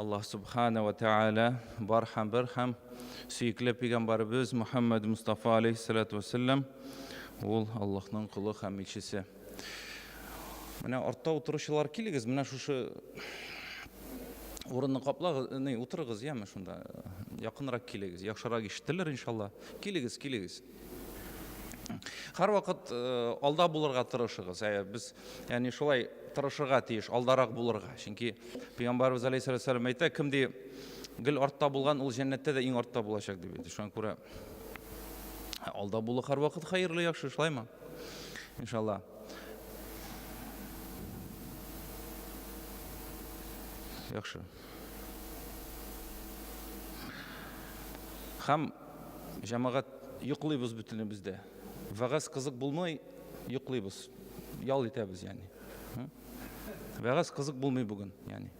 Аллаһ субхана ва тәгалә бар һәм бер һәм сөекле пәйгамбәребез Мөхәммәд Мустафа алейхиссалату вассалам ул Аллаһның кулы һәм илчесе. Менә артта утыручылар килегез, менә шушы урынны каплагыз, не, утырыгыз, яме шунда. Якынрак килегез, яхшырак ишетелер иншалла. Килегез, килегез. Һәрвакыт алда булырга тырышыгыз. Ә без яни шулай тырышырга тиеш, алдарак булырга. Чөнки Пәйгамбәрбез алейһиссәлам әйтә, кем ди гел артта булган, ул җәннәттә дә иң артта булачак дип әйтә. Шуңа күрә алда булу һәрвакыт хәерле, яхшы, шулаймы? Иншалла. Яхшы. Хәм Җәмәгать, йоклыйбыз бөтенебез дә. Вәгазь кызык булмый, йоклыйбыз. Ял итәбез, ягъни. Вәгазь кызык булмый бүген, ягъни.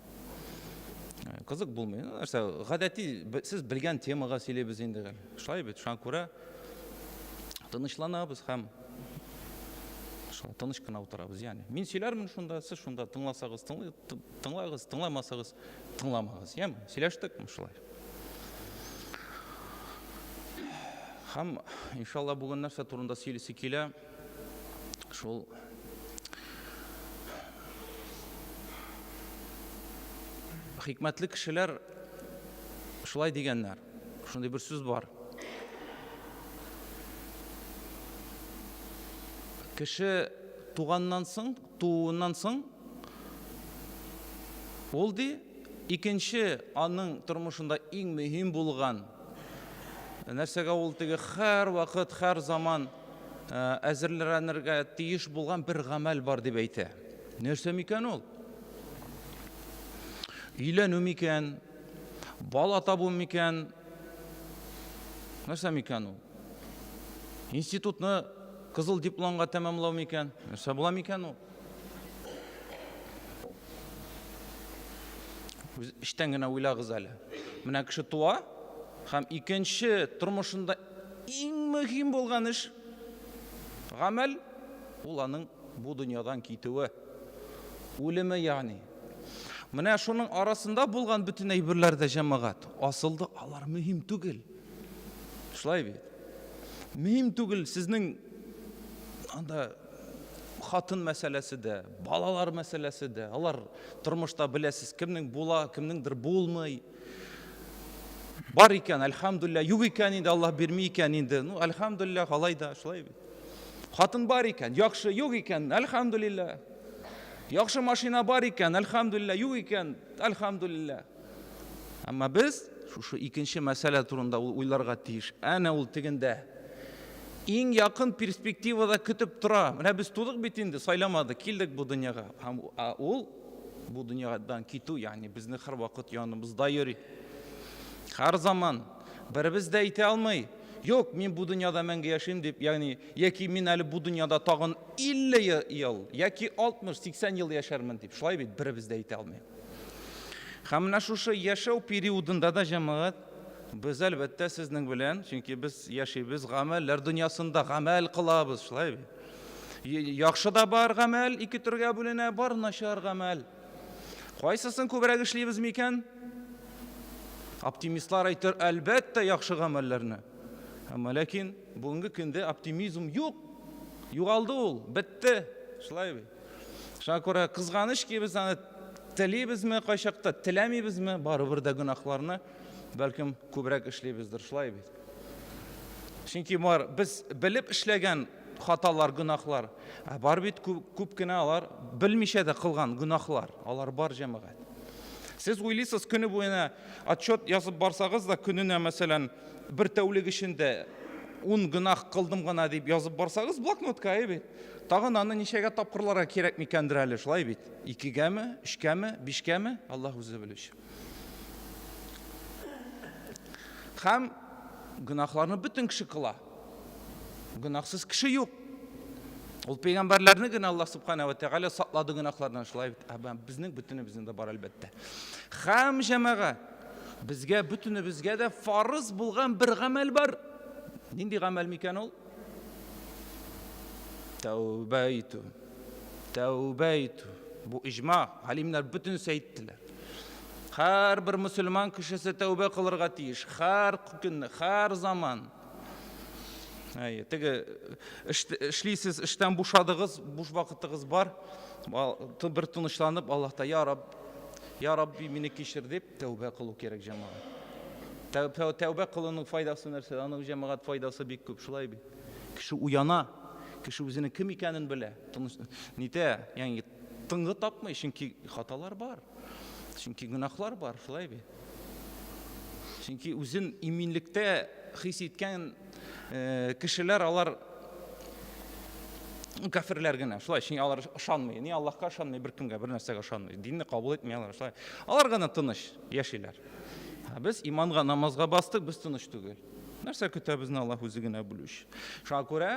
Э, кызык булмый. Ну, нәрсә, гадәти, сез белгән темага сөйлибез инде. Шулай бит, шуңа күрә тынычланабыз һәм шулай тыныч кына утырабыз. Ягъни, мин сөйләрмен шунда, сез шунда тыңласагыз, тыңлагыз, тыңламасагыз, тыңламагыз. Яме, сөйләштекме шулай? Һәм, иншалла, бүген нәрсә турында сөйлисе килә? Шул хикмәтле кешеләр шулай дигәннәр. Шундый бер сүз бар. Кеше туганнан соң, тууыннан соң ул, ди, икенче аның тормышында иң мөһим булган нәрсәгә ул теге һәрвакыт, һәр заман әзерлрәнергә тиеш булган бер гамәл бар дип әйтә. Нәрсә микән ул? Өйләнү микән? Бала табу микән? Нәрсә микән ул? Институтны кызыл дипломга тәмамлау микән? Нәрсә була микән ул? Үз эчтән генә уйлагыз әле. Менә кеше туа һәм икенче тормышында иң мөһим булган эш гамәл ул аның бу дөньядан китүе. Үлеме ягъни. Менә шуның арасында булган бөтен әйберләр дә җәмәгать асылда алар мөһим түгел. Шулай бит. Мөһим түгел сезнең анда хатын мәсьәләсе дә, балалар мәсьәләсе дә. Алар тормышта беләсез, кемнең була, кемнеңдер булмый. Бар икән, альхамдулилла, юк икән инде, Аллаһ бирми икән инде. Ну, альхамдулилла, алай да, шулай бит. Хатын бар икән, яхшы, юк икән, альхамдулилла. Яхшы машина бар икән, альхамдулилла, юк икән, альхамдулилла. Әмма без шушы икенче мәсьәлә турында уйларга тиеш. Әнә ул тегендә. Иң якын перспективада көтеп тора. Менә без тудык бит инде, сайламады, килдек бу дөньяга. Һәм ул бу дөньядан китү, ягъни безне һәрвакыт яныбызда йөри. Һәр заман беребез дә әйтә алмый, Юк, мин бу дөньяда мәңге яшим дип, ягъни, яки мин әле бу дөньяда тагын 50 ел, яки 60-80 ел яшәрмен дип. Шулай бит, беребез дә әйтә алмый. Һәм менә шушы яшәү периодында да, җәмәгать, без, әлбәттә, сезнең белән, чөнки без яшибез гамәлләр дөньясында, гамәл кылабыз, шулай бит. Яхшы да бар гамәл, ике төргә бүленә, бар начар гамәл. Кайсысын күбрәк эшлибез микән? Оптимистлар әйтер, әлбәттә, яхшы гамәлләрне. Әмма ләкин бүгенге көндә оптимизм юк. Югалды ул, бетте. Шулай бит. Шуңа күрә кызганыч ки, без аны телибезме кайчакта, теләмибезме, барыбер дә гөнаһларны бәлкем күбрәк эшлибездер, шулай бит. Чөнки бар без белеп эшләгән хаталар, гөнаһлар, ә бар бит күп, күп кенә алар белмичә дә кылган гөнаһлар, алар бар җәмәгать. Сез уйлыйсыз, көне буена отчет язып барсагыз да, көненә, мәсәлән, бер тәүлек эчендә ун гөнаһ кылдым гына дип язып барсагыз, блокнотка әйбәт. Тагын аны ничәгә тапкырларга кирәк микәндер әле, шулай бит? Икегәме, өчкәме, бишкәме? Аллаһ үзе белүче. Һәм гөнаһларны бөтен кеше кыла. Гөнаһсыз кеше юк. Ул пәйгамбәрләрне генә Аллаһ субхана ва тәгалә саклады гөнаһлардан шулай бит. Ә безнең бөтенебезнең дә бар әлбәттә. Хәм җәмәга безгә бөтенебезгә дә фарыз булган бер гамәл бар. Нинди гамәл микән ул? Тәүбә итү. Тәүбә итү. Бу иҗма, галимнәр бөтенесе әйттеләр. Һәрбер мөселман кешесе тәүбә кылырга тиеш. Һәр көн, һәр заман. Әйе, теге эшлисез, эштән бушадыгыз, буш вакытыгыз бар. Бер тынычланып, Аллаһта, "Я Рабб, я Рабби, мине кичер" дип, Тәүбә кылу кирәк, җәмәгать. Тәүбә кылуның файдасы нәрсә? Аның җәмәгать файдасы бик күп, шулай бит. Кеше уяна, кеше үзенең кем икәнен белә. Нитә, ягъни тынгы тапмый, чөнки хаталар бар. Чөнки гөнаһлар бар, шулай бит. Чөнки үзен иминлектә хис иткән Кешеләр алар кәферләр генә, шулай, чөнки алар ышанмый. Ни Аллаһка ышанмый, беркемгә, бер нәрсәгә ышанмый. Динне кабул итми алар, шулай. Алар гына тыныч яшиләр. Без иманга, намазга бастык, без тыныч түгел. Нәрсә көтә безне Аллаһ үзе генә белүче. Шуңа күрә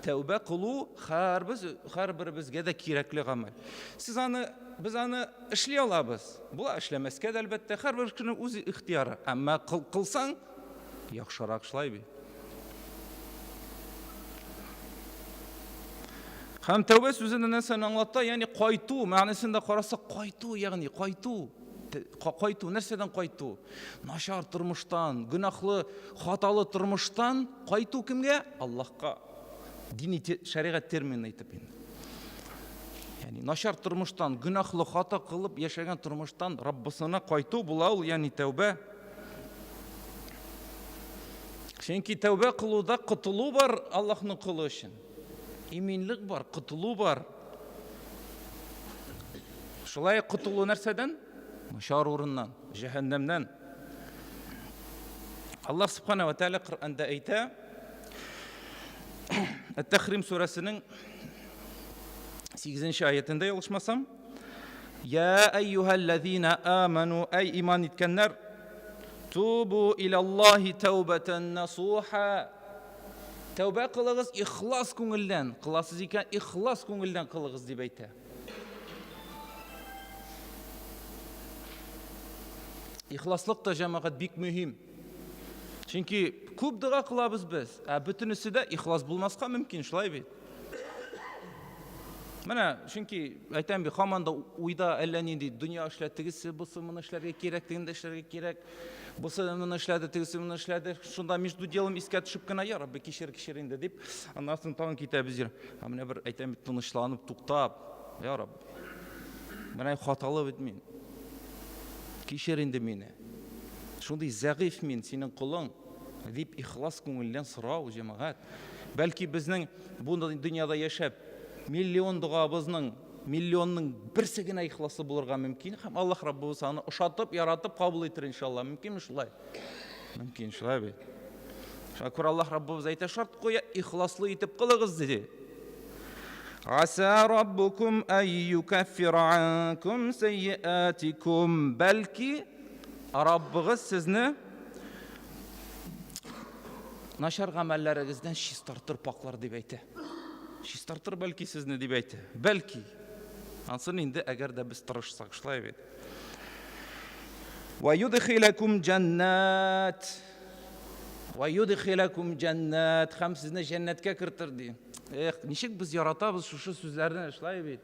тәүбә кылу һәрбез һәрберебезгә дә кирәкле гамәл. Сез аны без аны эшли алабыз. Була эшләмәскә дә әлбәттә, һәрбер кешенең үз ихтияры. Әмма кылсаң, Яхшырак шулай бит. Һәм тәүбә сүзе нәрсәне аңлата? Ягъни кайту, мәгънәсен дә карасак, кайту, ягъни кайту. Кайту, нәрсәдән кайту? Начар тормыштан, гөнаһлы, хаталы тормыштан кайту кемгә? Аллаһка. Дини шәригать термины итеп инде. Ягъни начар тормыштан, гөнаһлы, хата кылып яшәгән тормыштан Раббысына кайту була ул, ягъни тәүбә. Чөнки тәүбә кылуда котылу бар Аллаһның колы өчен. Иминлек бар, котылу бар. Шулай котылу нәрсәдән? Шар урыннан, җәһәннәмнән. Аллаһ Субхана ва Тәгалә Коръәндә әйтә, Әт-Тәхрим сүрәсенең 8 нче аятендә ялгышмасам, Йа әйюһәлләзина аману, әй иман иткәннәр, тубу илаллаһи тәүбәтән насуха. Тәүбә кылыгыз ихлас күңелдән, кыласыз икән, ихлас күңелдән кылыгыз дип әйтә. Ихласлык та җәмәгать бик мөһим. Чөнки күп дога кылабыз без, ә бөтенесе дә ихлас булмаска мөмкин, шулай бит. Менә чөнки әйтәм бит, хаман да уйда әллә нинди дөнья эшлә, тегесе бусы моны эшләргә кирәк, тегене дә эшләргә кирәк. Бусы моны эшләде, тегесе моны эшләде. Шунда между делом искә төшеп кенә, я Рабби, кичер, кичер инде дип, аннан соң тагын китәбез йөр. Ә менә бер әйтәм бит, тынычланып, туктап, я Рабби, менә хаталы бит мин. Кичер инде мине. Шундый зәгыйфь мин, синең колың, дип ихлас күңелдән сорау, җәмәгать. Бәлки безнең бу дөньяда яшәп, миллион догабызның миллионның берсе генә ихласлы булырга мөмкин һәм Аллаһ Раббыбыз аны ошатып, яратып кабул итер иншалла. Мөмкинме шулай? Мөмкин шулай бит. Шуңа күрә Аллаһ Раббыбыз әйтә, шарт куя, ихласлы итеп кылыгыз диде. Аса Раббукум айюкаффир анкум сайятикум. Бәлки Раббыгыз сезне Начар гамәлләрегездән чистартыр паклар дип әйтә. Чистартыр бәлки сезне дип әйтә. Бәлки. Ансын инде әгәр дә без тырышсак, шулай бит. Ва юдхилакум җаннат. Ва юдхилакум җаннат. Хәм сезне җәннәткә кертер ди. Эх, ничек без яратабыз шушы сүзләрне, шулай бит.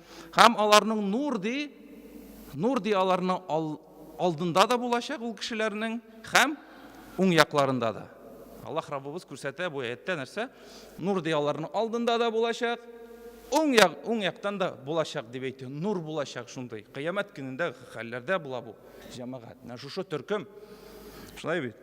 Һәм аларның нур ди, нур ди аларның ал, алдында да булачак ул кешеләрнең һәм уң якларында да. Аллаһ Раббыбыз күрсәтә бу әйттә нәрсә? Нур ди аларның алдында да булачак, уң як, уң яктан да булачак дип әйтте. Нур булачак шундый. Кыямәт көнендә хәлләрдә була бу. Җәмәгать, менә шушы төркем. Шулай бит.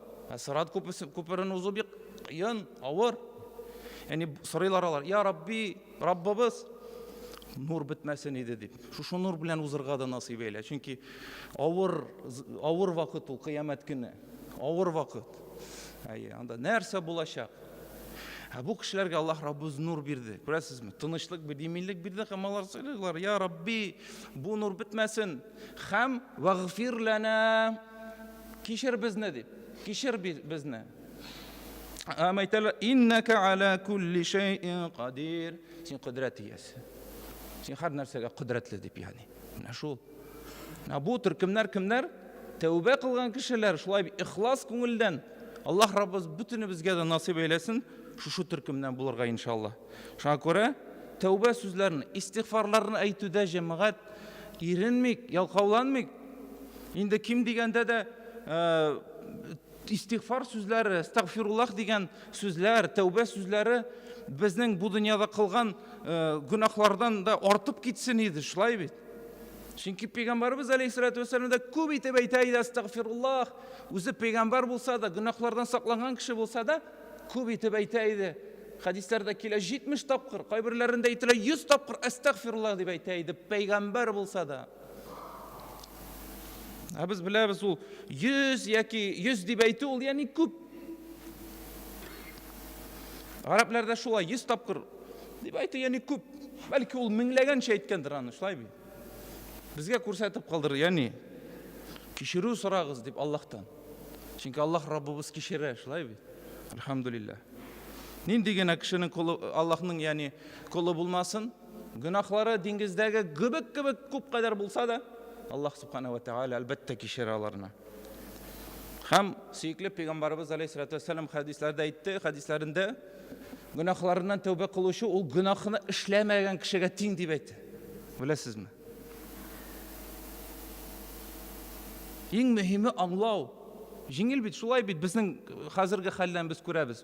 Ә Сырат күперен узу бик кыен, авыр. Яни сорыйлар алар, "Я Рабби, Раббыбыз, нур бетмәсен иде" дип. Шушы нур белән узырга да насыйп әйлә, чөнки авыр авыр вакыт ул кыямәт көне. Авыр вакыт. Әйе, анда нәрсә булачак? Ә бу кешеләргә Аллаһ Раббыз нур бирде. Күрәсезме? Тынычлык бирде, иминлек бирде һәм алар сорыйлар, "Я Рабби, бу нур бетмәсен". Хәм вагфир лана кичер безне дип, кичер безне. Һәм әйтәләр, иннәкә аля кулли шәйин кадир. Син кодрәт иясе. Син һәр нәрсәгә кодрәтле дип ягъни. Менә шул. Менә бу төркемнәр кемнәр? Тәүбә кылган кешеләр, шулай ихлас күңелдән. Аллаһ Раббыбыз бөтенебезгә дә насыйп әйләсен шушы төркемнән булырга иншаллаһ. Шуңа күрә тәүбә сүзләрен, истигъфарларны әйтүдә җәмәгать иренмик, ялкауланмик. Инде ким дигәндә дә истигъфар сүзләре, астагфируллах дигән сүзләр, тәүбә сүзләре безнең бу дөньяда кылган гөнаһлардан да артып китсен иде, шулай бит. Чөнки пәйгамбарыбыз алейхиссалату вассалам да күп итеп әйтә иде астагфируллах. Үзе пәйгамбар булса да, гөнаһлардан сакланган кеше булса да, Күп итеп әйтә иде. Хәдисләрдә килә 70 тапкыр, кайберләрендә әйтелә 100 тапкыр әстәгфируллаһ дип әйтә иде, пәйгамбәр булса да. Ә без беләбез ул 100 яки 100 дип әйтү ул яни күп. Гарәпләрдә шулай 100 тапкыр дип әйтү яни күп. Бәлки ул меңләгәнчә әйткәндер аны, шулай бит. Безгә күрсәтеп калдырды, ягъни кичерү сорагыз дип Аллаһтан. Чөнки Аллаһ Раббыбыз кичерә, шулай бит? Альхамдулиллаһ. Нинди генә кешенең колы Аллаһның, ягъни колы булмасын, гөнаһлары диңгездәге гөбек кебек күп кадәр булса да, Аллаһ субхана ва тааля әлбәттә кичерә аларны. Һәм сөекле пәйгамбарыбыз алейһиссалату вассалам хәдисләрдә әйтте, хәдисләрендә гөнаһларыннан тәүбә кылучы ул гөнаһны эшләмәгән кешегә тиң дип әйтте. Беләсезме? Иң мөһиме аңлау. Җиңел бит, шулай бит безнең хәзерге хәллән без күрәбез.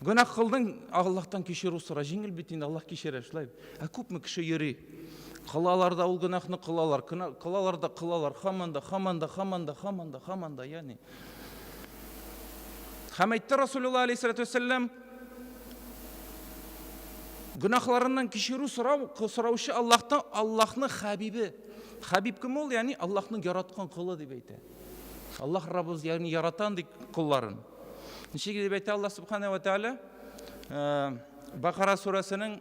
Гөнаһ кылдың, Аллаһтан кешерү сора. Җиңел бит инде, Аллаһ кешерә, шулай. Ә күпме кеше йөри? Кылалар да ул гөнаһны кылалар, кылалар да кылалар, хаман да, хаман да, хаман да, хаман да, хаман да, ягъни. Һәм әйтте Расулуллаһ алейһиссалату вәссәлам, Гөнаһларыннан кичерү сорау, сораучы Аллаһтан, Аллаһның хәбибе. Хәбиб кем ул? Ягъни Аллаһның яраткан колы дип әйтә. Аллаһ Раббыбыз ягъни ярата андый колларын. Ничек дип әйтә Аллаһ Субхана ва Тааля? Э, Бакара сурәсенең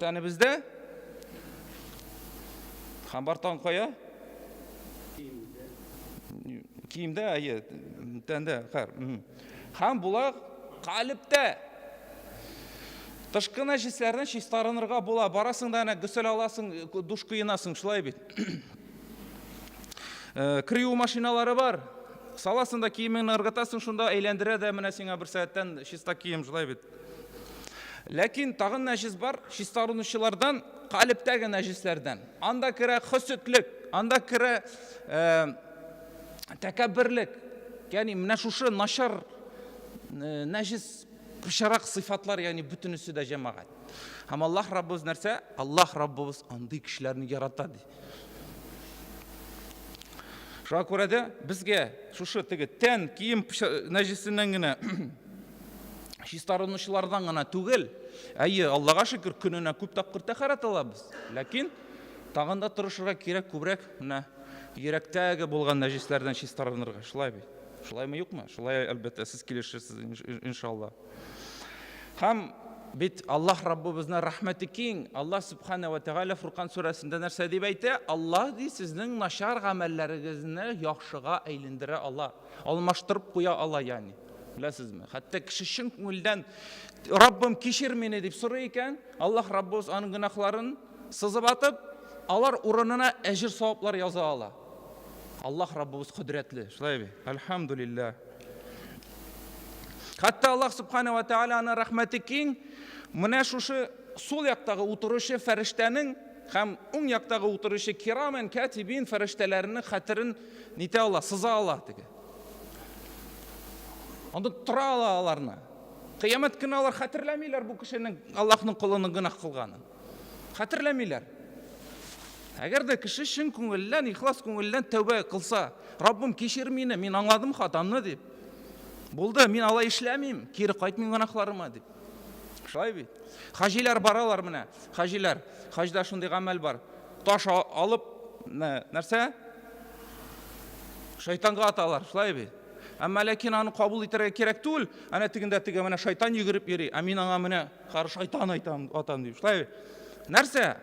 Тәнебездә һәм бар тагын кая? Киемдә, әйе, тәндә, хәр. Һәм була калептә. Тышкы нәҗисләрне чистарынырга була. Барасың да әнә гөсел аласың, душ кыенасың, шулай бит. Э, Крию машиналары бар. Саласың да киемеңне ыргытасың, шунда әйләндерә дә менә сиңа бер сәгатьтән чиста кием, шулай бит. Ләкин тагын нәҗес бар, чистарынучылардан, калептәге нәҗесләрдән. Анда керә хөсетлек, анда керә э, тәкәбберлек. Ягъни менә шушы начар э, нәҗес пычрак сыйфатлар, ягъни бөтенесе дә җәмәгать. Һәм Аллаһ Раббыбыз нәрсә? Аллаһ Раббыбыз андый кешеләрне ярата ди. Шуңа күрә дә безгә шушы теге тән кием нәҗесеннән генә чистарынучылардан гына түгел, әйе, Аллага шөкер, көненә күп тапкыр тәхәрәт алабыз. Ләкин тагын да тырышырга кирәк күбрәк менә йөрәктәге булган нәҗисләрдән чистарынырга. Шулай бит? Шулаймы юкмы? Шулай әлбәттә, сез килешерсез иншалла. Һәм бит Аллаһ Раббыбызның рәхмәте киң. Аллаһ Субхана ва Тәгалә Фуркан сүрәсендә нәрсә дип әйтә? Аллаһ ди сезнең начар гамәлләрегезне яхшыга әйлендерә ала, алмаштырып куя ала яни. Беләсезме? Хәтта кеше чын күңелдән Раббым кешер мине дип сорый икән, Аллаһ Раббыбыз аның гөнаһларын сызып атып, алар урынына әҗер саваплар яза ала. Аллаһ Раббыбыз кодрәтле. Шулай бит? Альхамдулиллаһ. Хәтта Аллаһ Субхана ва Тәала аны рәхмәте киң, менә шушы сул яктагы утыручы фәрештәнең һәм уң яктагы утыручы кирамен кәтибин фәрештәләренең хәтерен нитә ала, сыза ала диде. Анда тора ала аларны. Кыямәт көне алар хәтерләмиләр бу кешенең Аллаһның колының гына кылганын. Хәтерләмиләр. Әгәр дә кеше чын күңелдән, ихлас күңелдән тәүбә кылса, Раббым, кичер мине, мин аңладым хатамны дип. Булды, мин алай эшләмим, кире кайтмыйм гөнаһларыма дип. Шулай бит. Хаҗилар баралар менә, хаҗилар. Хаҗда шундый гамәл бар. Таш алып, нәрсә? Шайтанга аталар, шулай бит. Әмма ләкин аны кабул итәргә кирәк түгел. Әнә тегендә теге менә шайтан йөгереп йөри, ә мин аңа менә Кар шайтан айтам, атам дип. Шулай. Нәрсә?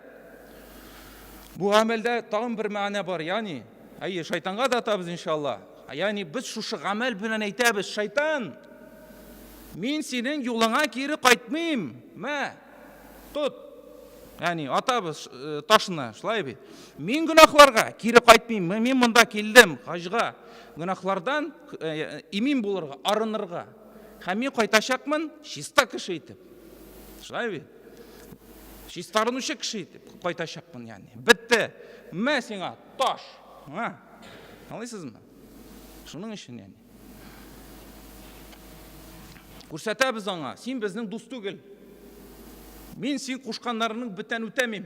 Бу гамәлдә тагын бер мәгънә бар, ягъни, әйе, шайтанга да атабыз иншалла. Ягъни без шушы гамәл белән әйтәбез, шайтан, мин синең юлыңа кире кайтмыйм. Мә, тот. Ягъни атабыз э, ташны, шулай бит. Мин гөнаһларга кире кайтмыйм. Мин монда килдем хаҗга. Гөнаһлардан э, имин булырга, арынырга. Һәм мин кайтачакмын чиста кеше итеп. Шулай бит? Чистарынучы кеше итеп кайтачакмын, ягъни. Бетте. Мә сиңа таш. Аңа. Аңлыйсызмы? Шуның өчен, ягъни. Күрсәтәбез аңа, син безнең дус түгел. Мин син кушканнарының бөтен үтәмим.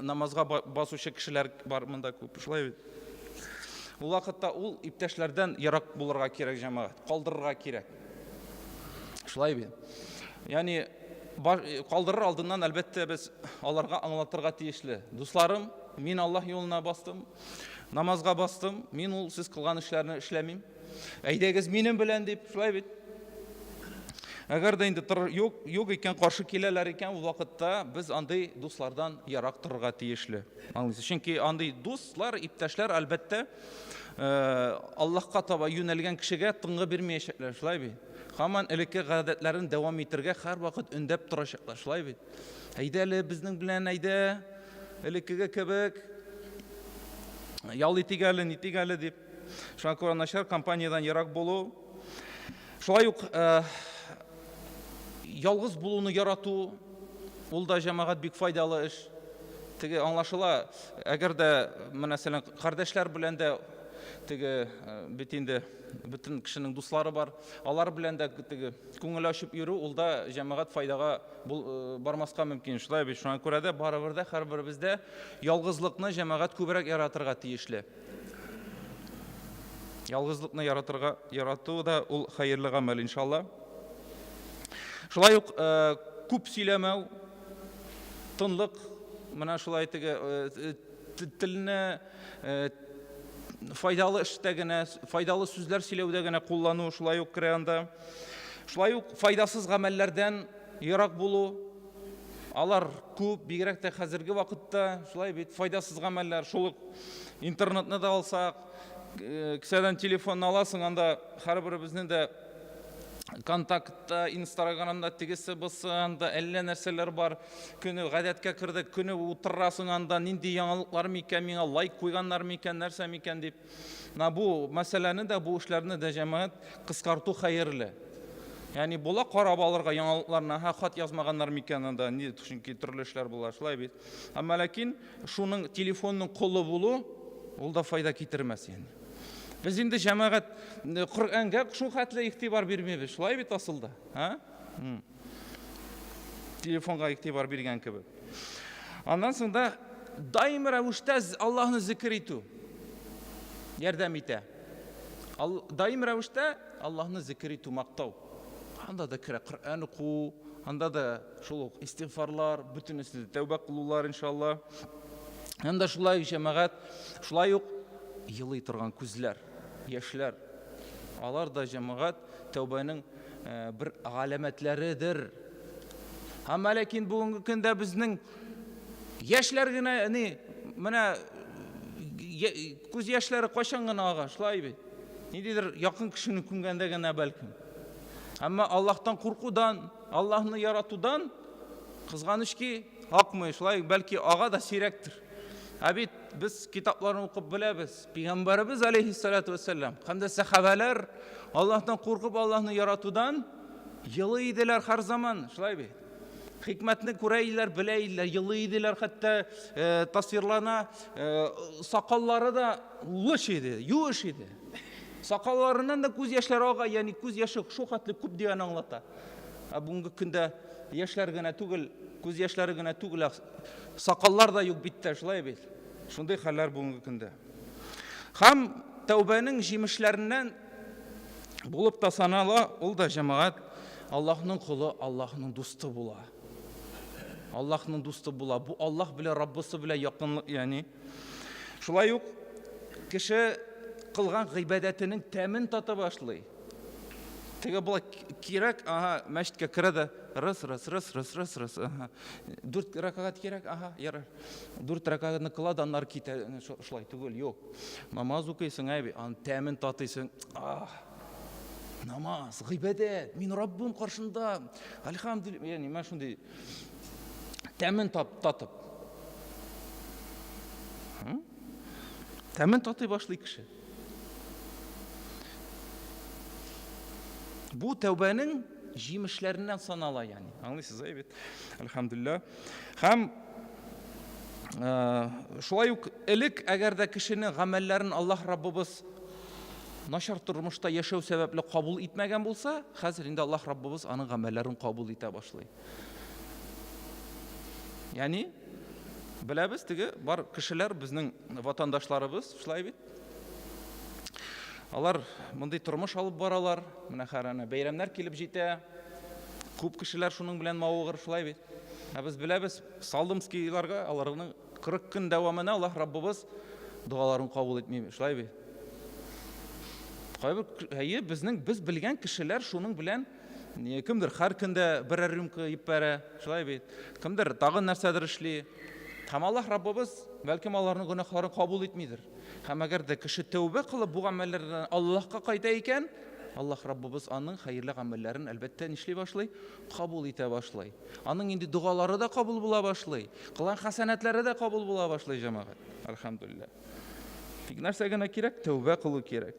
намазга басучы кешеләр бар монда күп, шулай бит? Ул вакытта ул иптәшләрдән ерак булырга кирәк җәмәгать, калдырырга кирәк. Шулай бит? Ягъни калдырыр алдыннан әлбәттә без аларга аңлатырга тиешле. Дусларым, мин Аллаһ юлына бастым, намазга бастым, мин ул сез кылган эшләрне эшләмим. Әйдәгез минем белән дип, шулай бит. Әгәр дә инде юк, юк икән, каршы киләләр икән, ул вакытта без андый дуслардан ярак торырга тиешле. Аңлыйсыз? Чөнки андый дуслар, иптәшләр, әлбәттә, э, Аллаһка таба юнәлгән кешегә тынгы бирмәячәкләр, шулай бит. Хаман элекке гадәтләрен дәвам итәргә һәрвакыт өндәп торачаклар, шулай бит. Әйдә әле безнең белән әйдә, элеккеге кебек ял итик әле, нитик әле дип. Шуңа күрә начар компаниядән ерак булу. Шулай ук ялгыз булуны ярату, ул да җәмәгать бик файдалы эш. Теге аңлашыла, әгәр дә мәсәлән кардәшләр белән дә теге бит инде бөтен кешенең дуслары бар. Алар белән дә теге күңел ачып йөрү, ул да җәмәгать файдага бармаска мөмкин. Шулай бит, шуңа күрә дә барыбер дә һәрберебез дә ялгызлыкны җәмәгать күбрәк яратырга тиешле. Ялгызлыкны яратырга ярату да ул хәерле гамәл, иншалла. Шулай ук э, күп сөйләмәү, тынлык, менә шулай теге э, телне э, файдалы эштә генә, файдалы сүзләр сөйләүдә генә куллану шулай ук керә анда. Шулай ук файдасыз гамәлләрдән ерак булу, Алар күп, бигрәк тә хәзерге вакытта, шулай бит, файдасыз гамәлләр. Шул ук интернетны да алсак, э, кесәдән телефонны аласың, анда һәрберебезнең дә контактта, инстаграмда тегесе бусы, анда әллә нәрсәләр бар. Көне гадәткә кердек, көне утырасың анда, нинди яңалыклар микән, миңа лайк куйганнар микән, нәрсә микән дип. Менә бу мәсьәләне дә, бу эшләрне дә җәмәгать кыскарту хәерле. Ягъни була карап алырга яңалыкларны, һә хат язмаганнар микән анда, ни, чөнки төрле эшләр була, шулай бит. Әмма ләкин шуның телефонның колы булу ул да файда китермәс ягъни. Без инде җәмәгать Коръәнгә шул хәтле игътибар бирмибез, шулай бит асылда, а? Телефонга игътибар биргән кебек. Аннан соң да даими рәвештә Аллаһны зикер итү ярдәм итә. Даими рәвештә Аллаһны зикер итү, мактау. Анда да керә Коръән уку, анда да шул ук истигъфарлар, бөтенесе тәүбә кылулар иншалла. Һәм дә шулай ук җәмәгать, шулай ук елый торган күзләр, яшьләр. Алар да җәмәгать тәүбәнең бер галәмәтләредер. Әмма ләкин бүгенге көндә безнең яшьләр генә ни менә күз яшьләре кайчан гына ага, шулай бит. Ниндидер якын кешене күмгәндә генә бәлкем. Әмма Аллаһтан куркудан, Аллаһны яратудан кызганыч ки, акмый, шулай бәлки ага да сирәктер. Ә бит без китапларны укып беләбез. Пәйгамбәребез алейһиссалату вәссәлам һәм дә сәхабәләр Аллаһтан куркып, Аллаһны яратудан елы иделәр һәр заман, шулай бит. Хикмәтне күрә иделәр, белә иделәр, елы иделәр, хәтта э, тасвирлана, э, сакаллары да лыш иде, юеш иде. Сакалларыннан да күз яшьләре ага, ягъни күз яше шул хәтле күп дигән аңлата. Ә бүгенге көндә яшьләр генә түгел, күз яшьләре генә түгел, сакаллар да юк биттә, шулай бит. Шундый хәлләр бүгенге көндә. Һәм тәүбәнең җимешләреннән булып та санала, ул да җәмәгать Аллаһның колы, Аллаһның дусты була. Аллаһның дусты була. Бу Аллаһ белән Раббысы белән якынлык, ягъни. Шулай ук кеше кылган гыйбадәтенең тәмен тата башлый. Теге болай кирәк, ага, мәчеткә керә дә, рыс, рыс, рыс, рыс, рыс, рыс, ага. Дүрт ракагат кирәк, ага, ярар. Дүрт рәкәгатьне кыла да аннары китә. Шулай түгел, юк. Намаз укыйсың, әби, аның тәмен татыйсың. Ах, намаз, гыйбадәт, мин Раббым каршында. Альхамдулилла, яни мен шундый тәмен тап, татып. Тәмен татый башлый кеше. Бу тәүбәнең җимешләреннән санала, яни. Аңлыйсыз, әйбәт. Альхамдулилла. Һәм шулай ук элек, әгәр дә кешене гамәлләрен Аллаһ Раббыбыз начар тормышта яшәү сәбәпле кабул итмәгән булса, хәзер инде Аллаһ Раббыбыз аның гамәлләрен кабул итә башлый. Яни, беләбез теге бар кешеләр безнең ватандашларыбыз, шулай бит. Алар мондый тормыш алып баралар. Менә хәрәнә бәйрәмнәр килеп җитә. Күп кешеләр шуның белән мавыгыр, шулай бит. Ә без беләбез, Салдымскийларга аларның 40 көн дәвамына Аллаһ Раббыбыз догаларын кабул итми, шулай бит. Кайбер әйе, безнең без белгән кешеләр шуның белән Не, кемдер һәр көндә берәр рюмка ип бәрә, шулай бит. Кемдер тагын нәрсәдер эшли. Һәм Аллаһ Раббыбыз, бәлкем, аларның гөнаһларын кабул итмидер. Һәм әгәр дә кеше тәүбә кылып бу гамәлләрдән Аллаһка кайта икән, Аллаһ Раббыбыз аның хәерле гамәлләрен, әлбәттә, нишли башлый? Кабул итә башлый. Аның инде догалары да кабул була башлый. Кылган хәсәнәтләре дә кабул була башлый, җәмәгать. Әлхәмдүлилләһ. Тик нәрсә генә кирәк? Тәүбә кылу кирәк.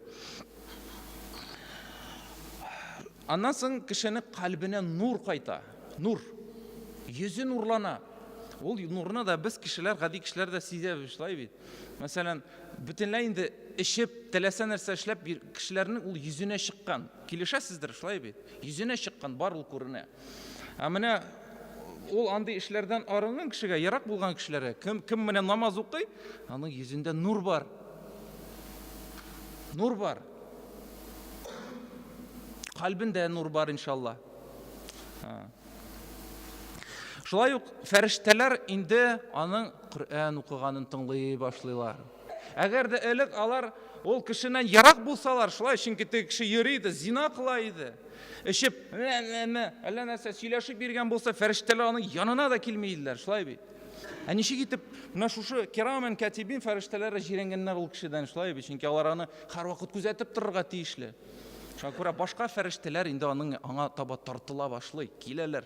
Аннан соң кешене калбенә нур кайта. Нур. Йөзе нурлана. Ул нурны да без кешеләр, гади кешеләр дә сизәбез, шулай бит. Мәсәлән, бөтенләй инде эчеп, теләсә нәрсә эшләп кешеләрнең ул йөзенә чыккан. Килешәсездер, шулай бит. Йөзенә чыккан бар ул күренә. Ә менә ул андый эшләрдән арынган кешегә, ерак булган кешеләргә, кем, кем менә намаз укый, аның йөзендә нур бар. Нур бар. Калбендә нур бар, иншалла. Шулай ук фәрештәләр инде аның Коръән укыганын тыңлый башлыйлар. Әгәр дә элек алар ул кешенән ерак булсалар, шулай, чөнки теге кеше йөри иде, зина кыла иде. Эчеп, әллә нәрсә сөйләшеп йөргән булса, фәрештәләр аның янына да килми иделәр, шулай бит. Ә ничек итеп менә шушы кирамен катибин фәрештәләре җирәнгәннәр ул кешедән, шулай бит, чөнки алар аны һәрвакыт күзәтеп торырга тиешле. Шуңа күрә башка фәрештәләр инде аның аңа таба тартыла башлый, киләләр.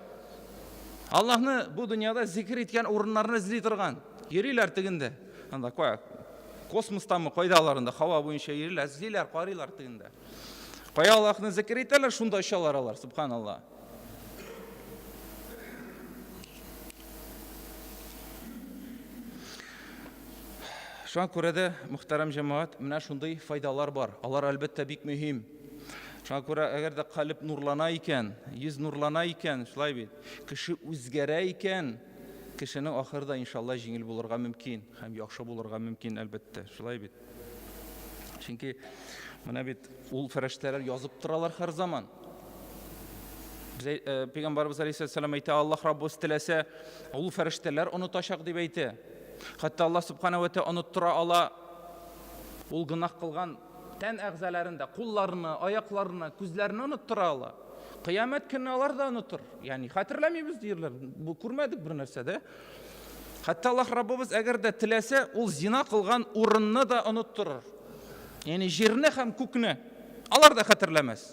Аллаһны бу дөньяда зикер иткән урыннарны эзли торган. Йөриләр тегендә. Анда кая? Космостамы, кайда алар анда? Һава буенча йөриләр, эзлиләр, карыйлар тегендә. Кая Аллаһны зикер итәләр, шунда очалар алар, субханалла. Шуңа күрә дә, мөхтәрәм җәмәгать, менә шундый файдалар бар. Алар, әлбәттә, бик мөһим. Шуңа күрә, әгәр дә калеб нурлана икән, йөз нурлана икән, шулай бит, кеше үзгәрә икән, кешенең ахыры да, иншалла, җиңел булырга мөмкин һәм яхшы булырга мөмкин, әлбәттә, шулай бит. Чөнки менә бит ул фәрештәләр язып торалар һәр заман. Без э, пәйгамбарыбыз алейһиссәлам әйтә, Аллаһ Раббыбыз теләсә, ул фәрештәләр онытачак дип әйтә. Хәтта Аллаһ субхана ва тааля оныттыра ала. Ул гынах кылган тән әгъзаларын да, кулларны, аякларны, күзләрне оныттыра ала. Кыямәт көнне алар да онытыр. Ягъни хәтерләмибез диерләр. Бу күрмәдек бер нәрсә дә. Хәтта Аллаһ Раббыбыз әгәр дә теләсә, ул зина кылган урынны да оныттырыр. Ягъни җирне һәм күкне алар да хәтерләмәс.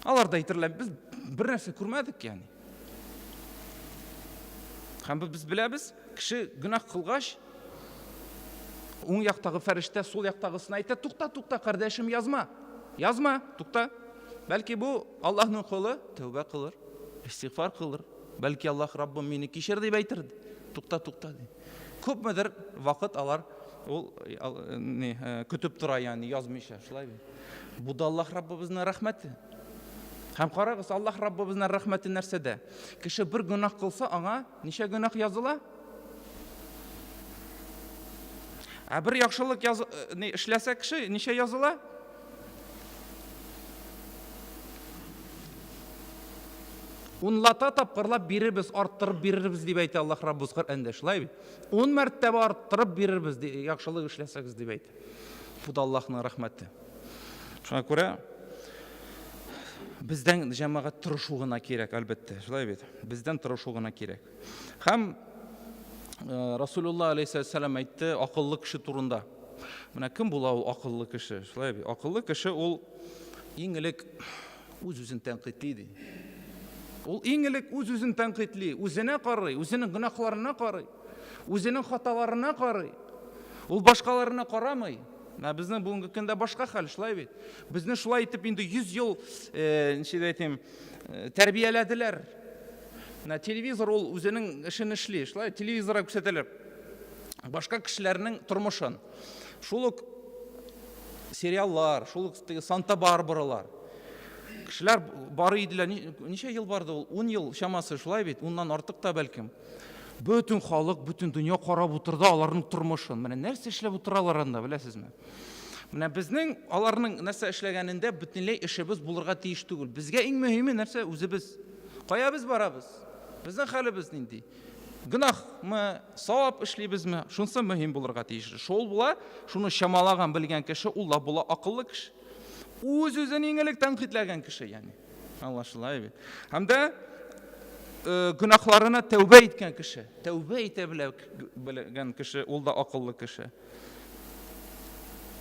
Алар да әйтерләр, без бер нәрсә күрмәдек ягъни. Һәм без беләбез, кеше гөнаһ кылгач, Уң яктагы фәрештә сул яктагысына әйтә, Тукта, тукта, кардәшем, язма! Язма! Тукта! Бәлки бу Аллаһның колы тәүбә кылыр, истигъфар кылыр. Бәлки Аллаһ, Раббым, мине кичер, дип әйтер. Тукта, тукта, ди. Күпмедер вакыт алар ул ни көтеп тора, ягъни язмыйча, шулай бит. Бу да Аллаһ Раббыбызның рәхмәте. Һәм карагыз, Аллаһ Раббыбызның рәхмәте нәрсәдә? Кеше бер гөнаһ кылса, аңа Ничә гөнаһ языла? Ә бер яхшылык яз... Э, эшләсә кеше, ничә языла? Унлата тапкырлап бирербез, арттырып бирербез дип әйтә Аллаһ Раббыбыз Коръәндә. Шулай бит? Ун мәртәбә арттырып бирербез, яхшылык эшләсәгез дип әйтә. Бу да Аллаһның рәхмәте. Шуңа күрә бездән җәмәгать тырышу гына кирәк, әлбәттә, шулай бит. Бездән тырышу гына кирәк. Һәм э, Расулулла алейхиссалам әйтте акыллы кеше турында. Менә кем була ул акыллы кеше? Шулай бит. Акыллы кеше ул иң элек үз-үзен тәнкыйтли ди. Ул иң элек үз-үзен тәнкыйтли, үзенә карый, үзенең гөнаһларына карый. Үзенең хаталарына карый. Ул башкаларына карамый. Ә безнең бүгенге көндә башка хәл, шулай бит. Безне шулай итеп инде 100 ел, э, ничек әйтим, э, тәрбияләделәр. Менә телевизор ул үзенең эшен эшли, шулай телевизорга күрсәтәләр. Башка кешеләрнең тормышын. Шул ук сериаллар, шул ук Санта-Барбаралар. Кешеләр бар иделәр. Ничә ел барды ул? 10 ел чамасы шулай бит, уннан артык та бәлкем. Бөтен халык, бөтен дөнья карап утырды аларның тормышын. Менә нәрсә эшләп утыралар анда, беләсезме? Менә безнең аларның нәрсә эшләгәнендә бөтенләй эшебез булырга тиеш түгел. Безгә иң мөһиме нәрсә? Үзебез. Кая без барабыз? Безнең хәлебез нинди? Гөнаһмы, савап эшлибезме? Шунысы мөһим булырга тиеш. Шул була, шуны чамалаган, белгән кеше ул да була акыллы кеше. Үз-үзен иң элек тәнкыйтьләгән кеше, ягъни. Аңлашыла бит. Һәм дә э, гөнаһларына тәүбә иткән кеше, тәүбә итә белгән кеше, ул да акыллы кеше.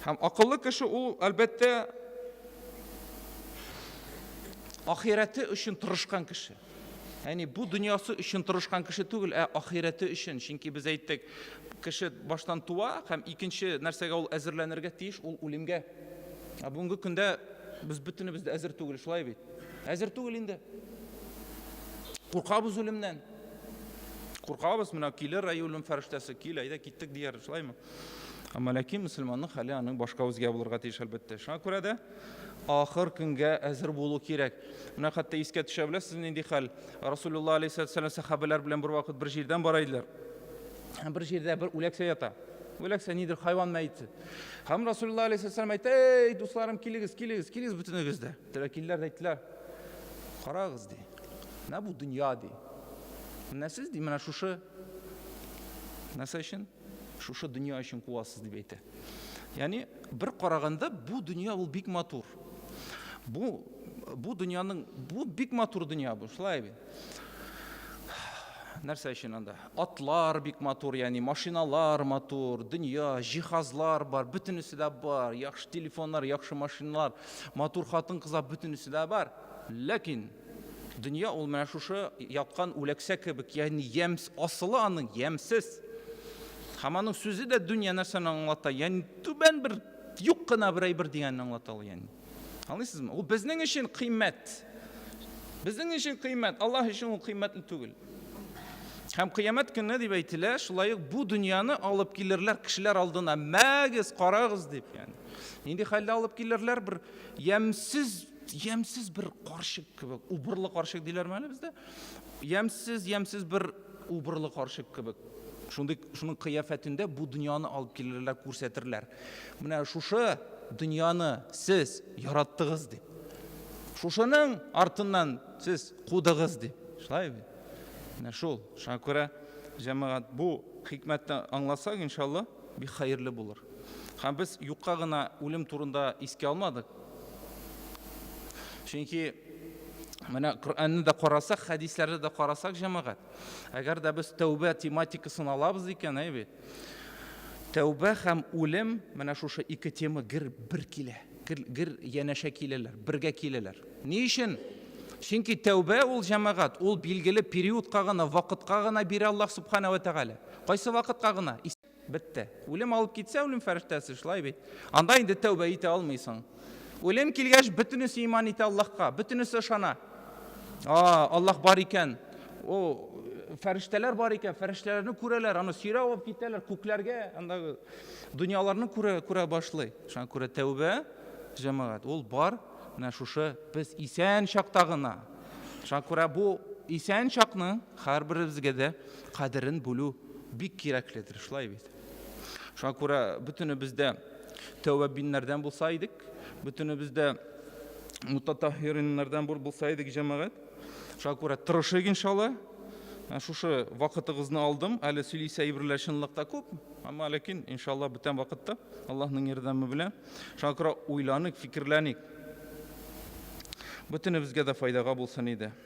Һәм акыллы кеше ул, әлбәттә, ахирәте өчен тырышкан кеше. Яни бу дөньясы өчен тырышкан кеше түгел, ә ахирәте өчен. Чөнки без әйттек, кеше баштан туа һәм икенче нәрсәгә ул әзерләнергә тиеш, ул үлемгә. Ә бүгенге көндә без бөтенебез дә әзер түгел, шулай бит? Әзер түгел инде. Куркабыз үлемнән. Куркабыз, менә килер ай үлем фәрештәсе, кил, әйдә киттек дияр, шулаймы? Әмма ләкин мөселманның хәле аның башка үзгә булырга тиеш әлбәттә. Шуңа күрә дә ахыр көнгә әзер булу кирәк. Менә хәтта искә төшә беләсез нинди хәл? Расулулла алейһиссалату вассалам сахабәләр белән бер вакыт бер җирдән бара иделәр. Бер җирдә бер үләксә ята. Үләксә нидер хайван мәете. Һәм Расулла алейһиссәлам әйтте, "Эй, дусларым, килегез, килегез, килегез бөтенегез дә." Тәләр килдиләр дә әйттеләр, "Карагыз ди. Менә бу дөнья ди. Менә сез ди, менә шушы нәрсә өчен, шушы дөнья өчен куасыз" дип әйтә. Ягъни бер караганда бу дөнья ул бик матур. Бу бу дөньяның бу бик матур дөнья бу, шулай бит. Нәрсә өчен анда? Атлар бик матур, ягъни машиналар матур, дөнья, җиһазлар бар, бөтенесе дә бар, яхшы телефоннар, яхшы машиналар, матур хатын-кызлар, бөтенесе дә бар. Ләкин дөнья ул менә шушы яткан үләксә кебек, ягъни ямс, асылы аның ямсез. Һәм аның сүзе дә дөнья нәрсәне аңлата, ягъни түбән бер, юк кына бер әйбер дигәнне аңлата ул, ягъни. Аңлыйсызмы? Ул безнең өчен кыйммәт. Безнең өчен кыйммәт, Аллаһ өчен ул кыйммәтле түгел. Һәм кыямәт көнне дип әйтелә, шулай ук бу дөньяны алып килерләр кешеләр алдына. Мәгез, карагыз дип, ягъни. Нинди хәлдә алып килерләр? Бер ямьсез, ямьсез бер карчык кебек, убырлы карчык диләрме әле бездә? Ямьсез, ямьсез бер Убырлы карчык кебек, шундый, шуның кыяфәтендә бу дөньяны алып килерләр, күрсәтерләр. Менә шушы дөньяны сез яраттыгыз дип. Шушының артыннан сез кудыгыз дип. Шулай бит? Менә шул. Шуңа күрә җәмәгать бу хикмәтне аңласак, иншалла, бик хәерле булыр. Һәм без юкка гына үлем турында искә алмадык. Чөнки менә Коръәнне дә карасак, хәдисләрне дә карасак, җәмәгать, әгәр дә без тәүбә тематикасын алабыз икән, әй бит. Тәүбә һәм үлем менә шушы ике тема гер бер килә. Гер, гер янәшә киләләр, бергә киләләр. Ни өчен? Чөнки тәүбә ул җәмәгать, ул билгеле периодка гына, вакытка гына бирә Аллаһ субхана ва тәгалә. Кайсы вакытка гына? Бетте. Үлем алып китсә, үлем фәрештәсе шулай бит. Анда инде тәүбә итә алмыйсың. Үлем килгәч, бөтенесе иман итә Аллаһка, бөтенесе ышана. А, Аллаһ бар икән. О, фәрештәләр бар икән, фәрештәләрне күрәләр, аны сөйрәп алып китәләр күкләргә, андагы дөньяларны күрә, күрә башлый. Шуңа күрә тәүбә, җәмәгать, ул бар, менә шушы без исән чакта гына. Шуңа күрә бу исән чакны һәрберебезгә дә кадерен бүлү бик кирәкледер, шулай бит? Шуңа күрә бөтенебез дә тәүәббиннәрдән булса идек, бөтенебез дә мутатаһириннардан булса идек, җәмәгать. Шуңа күрә тырышыйк иншалла. Ә шушы вакытыгызны алдым. Әле сөйлисе әйберләр чынлыкта күп, әмма ләкин иншалла бүтән вакытта Аллаһның ярдәме белән. Шуңа күрә уйланыйк, фикерләник. Бүтәнебезгә дә файдага булсын иде.